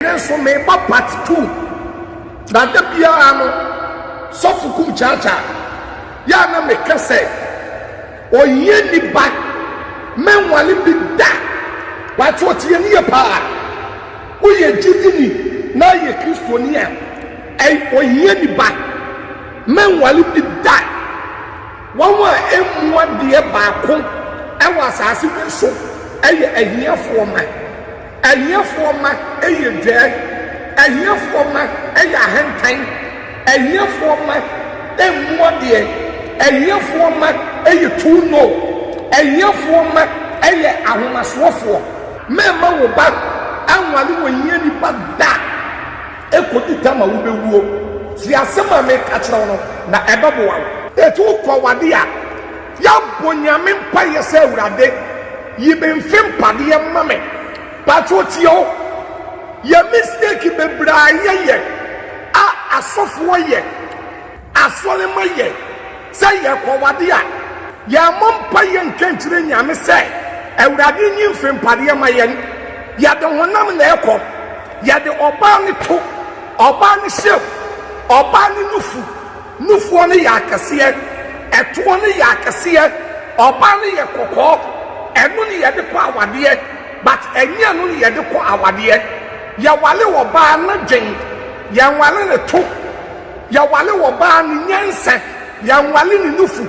Me nso meba part two na da biara no sɔfo kum kyaakya yɛ a na meka sɛ ɔyɛ nipa mɛnwale bi da pato ɔte yɛ ne yɛ paa woyɛ gyidini na yɛ kristoni a ɔyɛ nipa mɛnwale bi da wɔn a emu adeɛ baako ɛwɔ asaase bi so ɛyɛ ahiafoɔ ma Ahiafoɔ mma yɛ dwɛɛ. Ahiafoɔ mma yɛ ahantan. Ahiafoɔ mma mmu adeɛ. Ahiafoɔ mma yɛ too know. Ahiafoɔ mma yɛ ahomasoɔfoɔ. Mɛmma wo ba anwale ohiani ba da kɔdi ta ma wobɛwuo. Tie asɛm a meka kyerɛ wo no, na ɛbɛboa wo. Ɛtu kɔ w'adeɛ a. Yɛabɔ Nyame mpaeɛ sɛ Awurade yi me mfe mpadeɛ ma me pakyɛ ɔtie o yɛ mistake bebree a yɛ yɛ a asɔfoɔ yɛ asɔre ma yɛ sɛ yɛ kɔwade a yɛ mmɔ mpaeɛ nka nkyerɛ Nyame sɛ Awurade nyi mfe mpadeɛ ma yɛn yɛde honam na ɛkɔ yɛde ɔbaa ne to ɔbaa ne hyɛm ɔbaa ne nufu Nufoɔ no yɛ akɛseɛ, ɛtoɔ no yɛ akɛseɛ, ɔbaa no yɛ kɔkɔɔ, ɛno ne yɛde kɔ awadeɛ but ɛnyɛ ɛno ne yɛde kɔ awadeɛ. Yɛwale ɔbaa no dwen, yɛnwale ne to, yɛwale ɔbaa no nyansa, yɛnwale ne nufu.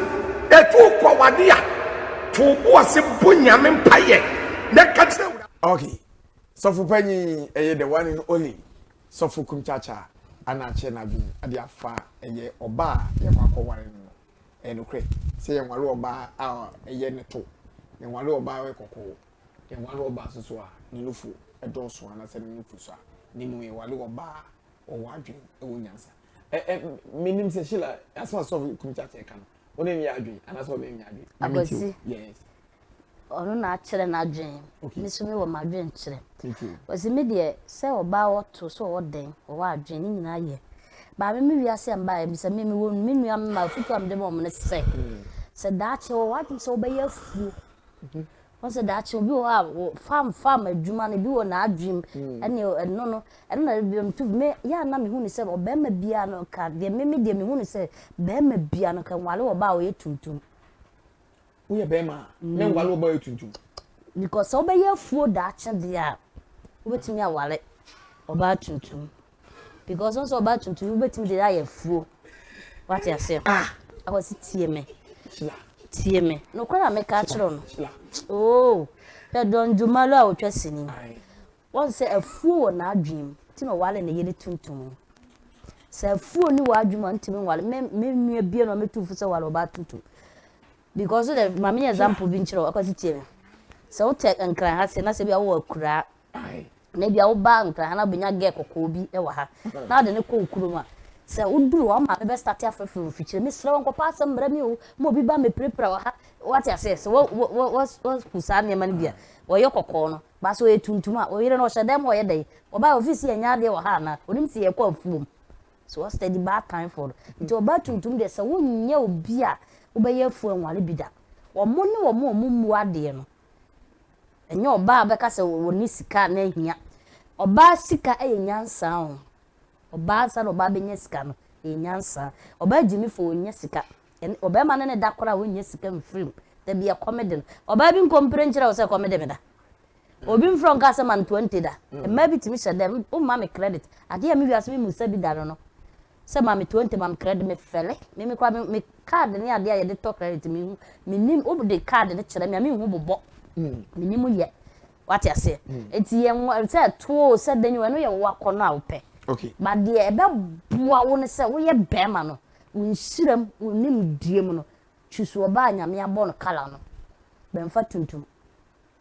Ɛtu kɔ awadeɛ a, to wo bo ase bɔ Nyame mpaeɛ na ka kyerɛ Awurade. Okay sɔfo panyin ɛyɛ the one and only Sɔfo Kumkyakya a na akyɛ n'adwene de afa ɛyɛ ɔbaa a yɛkɔ akɔware no no, ɛyɛ nokorɛ sɛ yɛnware ɔbaa a ɛyɛ ne to, yɛnware ɔbaa a ɔyɛ kɔkɔɔ, yɛnware ɔbaa nso so a ne nufu dɔɔso anaasɛ ne nufu sua, na mmom yɛware ɔbaa a ɔwɔ adwene, ɔwɔ nyansa. Ɛ, ɛ, menim sɛ Sheila, asɛm a Sɔfo Kumkyakya reka no, ɔne ne yɛ adwene anaasɛ ɔne ne yɛ adwene. akwasi yes. ɔno na akyerɛ n'adwene ne so mi wɔ m'adwene kyerɛ wɔsi mi deɛ sɛ ɔbaa wɔto sɛ ɔwɔ dɛn ɔwɔ adwene ne nyinaa yɛ baame mi wiase a mbaa ebisa mi mi wɔ mi nua mi ma futu a mi de ma wɔn ne sɛ sɛ daakye wɔ w'adwene sɛ wɔbɛyɛ afuo Wohu sɛ daakye obi wɔ hɔ a wo farm farm adwuma no ebi wɔ n'adwene mu ɛne ɛno no ɛno na ebi nto me yɛ a na mehu ne sɛ ɔbarima biara no ka deɛ me me deɛ mehu ne sɛ barima biara no ka nwale wɔ ba a ɔyɛ tuntum. Woyɛ barima a na nwale wɔ ba a ɔyɛ tuntum. Because sɛ wobɛyɛ afuo daakye deɛ a wobɛtumi awale ɔbaa tuntum. because ɔsɛ ɔbaa tuntum wobɛtumi de ayɛ afuo wate aseɛ ah ɛwɔ se tie me tie me nokorɛ a meka akyerɛ no oo hwɛ dɔndwomalo a ɔtwa sini wɔn sɛ afuo wɔ n'adwenem nti na ɔwale ne yere tuntum sɛ afuo ne w'adwenem a ntumi nwale me me nua bie na ɔmɛtu fo sɛ wale ɔbaa tuntum because dɛ maame yɛ example bi nkyerɛ ɔkɔ se tie me sɛ wotɛ nkran ha se na sɛ bi a wowɔ akuraa na ebia wo ba nkran ha na wobɛnya gɛɛ kɔkɔɔ bi wɔ ha na wode no kɔ wo kurom a, sɛ woduru hɔ a, wo maame bɛstate afrɛfrɛ wo mfikyire, mesrɛ wo nkɔpɛ asɛm mmra mi o, ma obi ba mmɛpirapira wɔ ha, woate aseɛ? Sɛ woahu saa nneɛma no bi a, ɔyɛ kɔkɔɔ no, but sɛ ɔyɛ tuntum a, wo yere no ɔhyɛ dan mu a ɔyɛ dɛn? Ɔbaa a ɔfiri sɛ yɛnyɛ adeɛ wɔ ha anaa? Ɔnim sɛ yɛkɔ afuom. So what's the bad time for no? Nti ɔbaa tuntum deɛ sɛ wonyɛ obi a wobɛyɛ afuo anwale bi da. Wɔn ne wɔn a wɔmmu adeɛ no, Ɛnyɛ ɔbaa a wobɛka sɛ ɔne sika a na ahia. Ɔbaa sika yɛ nyansa o. Ɔbaa ansa na ɔbaa bɛnya sika no, ɛyɛ nyansa. Ɔbaa gyimifo ɔnnya sika. Ɛne ɔbarima ne ne da koraa a ɔnnya sika mfiri mu. Da bi ɛkɔm de no. Ɔbaa bi nkɔ mpire nkyerɛ wo sɛ ɛkɔm de me da. Obi mfrɛ wo nka asɛm antoa nte da. Mmaa bi tumi hyɛ dɛ, womma me credit. Adeɛ a me wiase me mmu sa bi da no no, sɛ ma me twenty ma me credit me fɛlɛ me me koraa me card ne adeɛ a yɛde tɔ credit me hu me nim wo de card ne kyerɛ me a me hu bobɔ mm. me nim yɛ wate aseɛ mm. nti yɛn wa sɛ tuo sɛ dɛn ɛno yɛ wo akɔ no a wopɛ okay ba deɛ ɛbɛboa wo ne sɛ woyɛ bɛrima no wo nsiram wo nim die mu no twusu ɔbaa nyame abɔ no kala no bɛnfa tuntum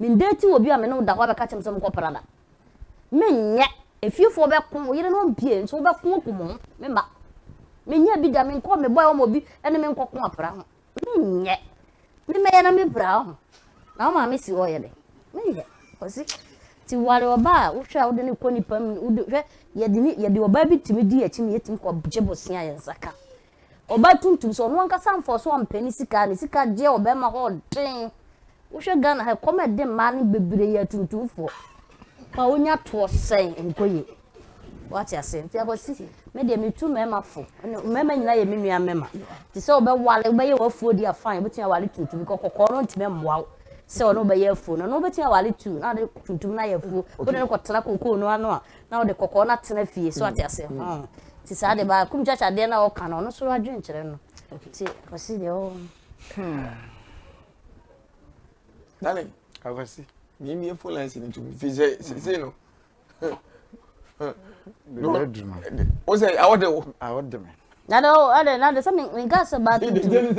Mendating obi a me ne wo da hɔ abɛka akyerɛ me sɛ ɔmo kɔ Prada. Menyɛ. Efiefoɔ bɛko, wo yerenom mpie, nso wo bɛko akum wɔn, me mma. Menyɛ bi da, menkɔ, me boy ɔma obi ne me nkɔ ko apra ho. Menyɛ. Me mɛyɛ na me pira ho. Na wo maame si hɔ yɛ dɛ. Menyɛ. Ɔsi, ti ware ɔba a, wohwɛ a wode ne kɔ nipa mu, wode, hwɛ, yɛde ne, yɛde ɔbaa bi tumi di akyi na yɛtumi kɔ gye bosea yɛn nsa ka. Ɔbaa tuntum sɛ ɔno ankasa mfa so ampɛ ne sika, ne sika deɛ ɔbɛma hɔ den. Wohwɛ Ghana ha ɛkɔm ɛde mmaa no bebree yɛ atuntumfoɔ. Paa wonya toɔ sɛn nkɔ yie. Wate ase nti akwasi me deɛ metu mmarima fo. Mmarima nyinaa yɛ me nua mmarima. Te sɛ wobɛwale wobɛyɛ w'afuo di afan wobɛtumi awale tuntum because kɔkɔɔ no ntumi mmoa wo sɛ ɔno wobɛyɛ afuo no ɔno wobɛtumi awale tu na ade tuntum no ayɛ afuo wode no kɔtena kokoo no ano a na ɔde kɔkɔɔ no atena fie so ate ase nti saa de baa kum kyakya adeɛ no a ɔka no ɔno so adwene kyerɛ no nti ɔsi deɛ ɔwɔ dale akwasi mìíní efo lẹnsi ni tumi fi sẹ sese no o sẹ awọ de wo. awọ de mi. na de o ade na de sẹ mi mi nka sẹ baa tuntun.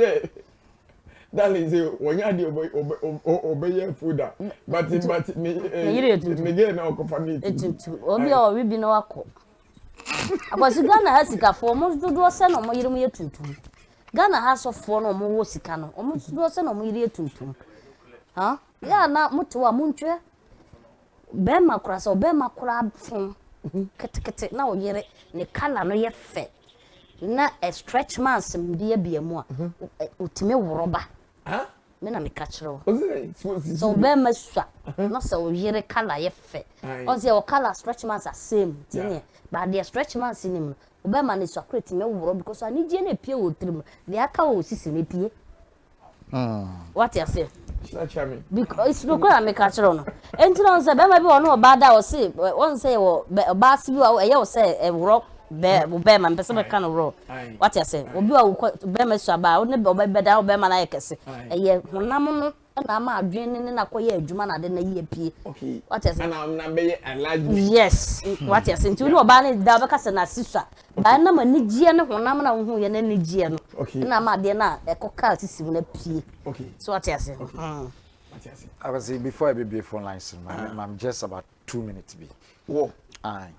darling sɛ wɔnyɛ adeɛ ɔbɛ ɔbɛ ɔbɛ yɛ food a but but ne ɛɛ ne gɛɛ na ɔkɔfa ne etutu obi a ɔwe bi na wakɔ akwasi ghana ha sikafoɔ ɔmo dodoɔ sɛ na ɔmo yere mo yɛ tuntum ghana ha sɔfoɔ na ɔmo wɔ sika no ɔmo dodoɔ sɛ na ɔmo yere yɛ tuntum ha yɛ a na mo te hɔ a mo ntwɛ. Bɛɛma koraa sɛ ɔbɛɛma koraa fom ketekete na ɔyere ne colour no yɛ fɛ na ɛ stretch marks mbiabia mu a ɔtumi woro ba me na meka kyerɛ wo sɛ ɔbɛɛma sua na sɛ ɔyere colour yɛ fɛ ɔn sɛ ɔ colour stretch marks asɛe mu ti neɛ ba deɛ stretch marks nim no ɔbɛɛma ne sua koraa tumi woro because anigyeɛ no ɛpie wɔ ɔtiri mu deɛ aka wɔ ɔsisi no ɛpie. Hmm. What you say? Because no kura me catch on. And you know, say, Bema be one about that or say, one say, or bass you are, you say, a rock, bear, Bema, and person can roll. What you say? Will be a Bema Saba, only Bobby Beda, Bema, I can say, a year, one namu. na ama adwene ne na kɔyɛ adwuma na ade na yie pie wate ase na na bɛyɛ alaji yes wate ase nti wo ne ɔbaa ne da ɔbɛka sɛ na sisa Na ɛnam anigyeɛ ne honam no a wohuuɛ no anigyeɛ no na ama adeɛ no a ɛkɔkaa sisi mu no apue. So wate aseɛ? Abasi, before ɛbɛbie phone lines no, maame, maame just about two minutes bi. Wɔ? Aye.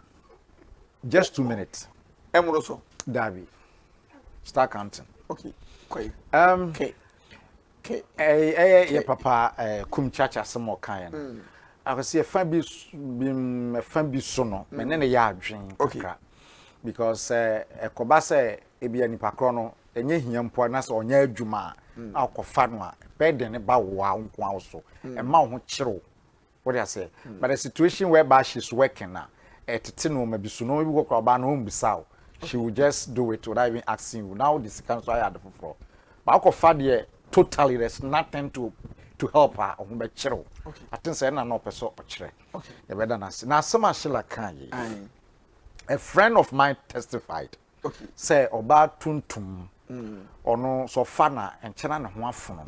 Just two minutes. Ɛmoro so? Daabi. Start counting. Okay, kɔye. Um, okay. Ke. Ɛɛ ɛyɛ yɛ papa ɛɛ kum kyakya asɛm a ɔkaeɛ no. Mm. Akɔsi ɛfa bi bi ɛfa bi so no mɛ ne ne yɛ adwen kakra because ɛkɔba sɛ ebi a nipa korɔ no ɛnyɛ hia mpo a na sɛ ɔnyɛ adwuma a na ɔkɔfa no a bɛɛden ne ba wo a wo nko ara wo so ɛma wo ho kyerɛ wo Wode aseɛ? But a situation whereby she's working a, ɛtete nnoɔma bi so. Nnoɔma bi wɔ koraa ɔbaa no ɔmmisa wo. She will just do it without even asking you. Na wode sika nso ayɛ ade foforɔ. But wokɔfa deɛ totally there's nothing to to help a, ɔho bɛkyere wo. I think sɛ ɛna na ɔpɛ sɛ ɔkyerɛ. Yɛbɛda no ase. Na asɛm a Sheila kaa yei, a friend of mine testified. sɛ ɔbaa tuntum ɔno sɛ ɔfa na nkyɛ na ne ho afono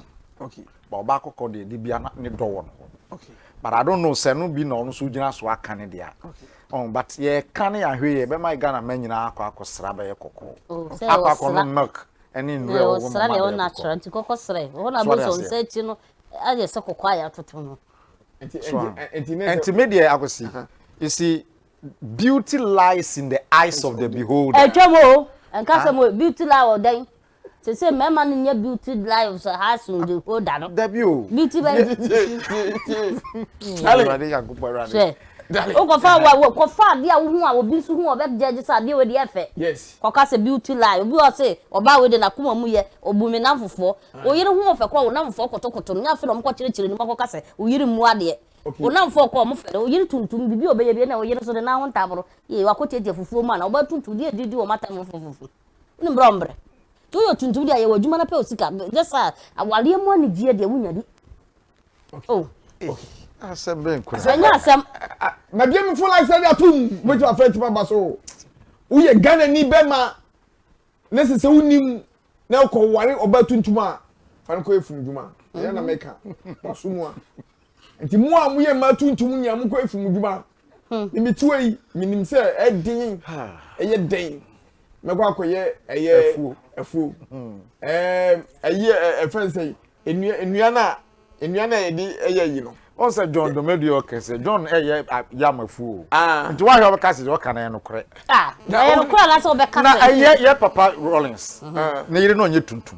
ba ɔbaa kɔkɔɔ deɛ de bia na ne dɔ wɔ no hɔ but I don't know sɛ no bi na ɔno so gyina so aka ne deɛ oh, but yɛka ne yɛahwɛ yɛ bɛma Ghana ma nyinaa akɔ akɔsra bɛyɛ kɔkɔɔ oh, akɔ akɔnom milk ɛne nnuro a wɔwɔ mama deɛ kɔkɔɔ nti kɔkɔ srɛ wɔn a bɛsɔ nsa akyi no ayɛ sɛ kɔkɔɔ a yɛatoto no nti me deɛ akɔsi ɛsi Beauty lies in the eyes of the beholder. Ɛtwam o, ɛnka asɛm o, beauty lie wɔ dɛn? Sese mmarima no nyɛ beauty lies has in the holder no. Dabi o. Beauty bɛn? Hwɛ, wokɔfa wa wɔ kɔfa adeɛ a wohu a obi nso hu a ɔbɛ judge sɛ adeɛ wei deɛ ɛfɛ. Kɔka sɛ beauty lie, obi wɔ se ɔbaa wei deɛ n'akoma mu yɛ, obu me nnamfofoɔ. Wo yere ho ɔfɛ koraa a wo nnamfofoɔ kotokoto no, nyɛ afei na wɔkɔkyerɛkyerɛ ne mu akɔka sɛ wo yere mmu adeɛ. Okay. Onamfo ɔkɔ ɔmo fɛrɛ oyere tuntum bibi a ɔbɛyɛ bi na oyere nso de n'aho ntaboro yɛ wakɔ tiatia fufuo mu a na ɔbɛ tuntum deɛ didi wɔn atam no fufufu ne mbrɛ ɔmbrɛ tí oyɛ tuntum deɛ ayɛ wɔ adwuma na pɛ osika nyɛ saa awareɛ mu anigyeɛ deɛ wunya bi o. asɛm bɛn kura ɛnyɛ asɛm. mabie mi fo like sɛ de atum mɛtumi afɛ ntoma ba so woyɛ ghana ni bɛma na ɛsɛ sɛ wonim na wokɔ ware ɔbaa tuntum a fa no kɔyɛ funu dwuma ɛyɛ na mɛka waso mu a nti mo a moyɛ mmaa tuntum nyinaa mokɔyɛ funu dwuma mebɛtiwa yi menim sɛ ɛden ɛyɛ den mɛkɔ akɔyɛ ɛyɛ afuo ɛyɛ ɛfɛn sɛ Nnua nnuan a nnuan a yɛde ɛyɛ ayi no. Wɔn sɛ John Domedue ɔka sɛ John ɛyɛ yɛ amafu o. Ah. Nti wahwɛ ɔbɛka sɛ ɔka na ɛyɛ nokorɛ. Ah. Na ɛyɛ nokorɛ anaasɛ ɔbɛka sɛ. Na ɛyɛ yɛ papa Rawlings. Ne yere na ɔnyɛ tuntum.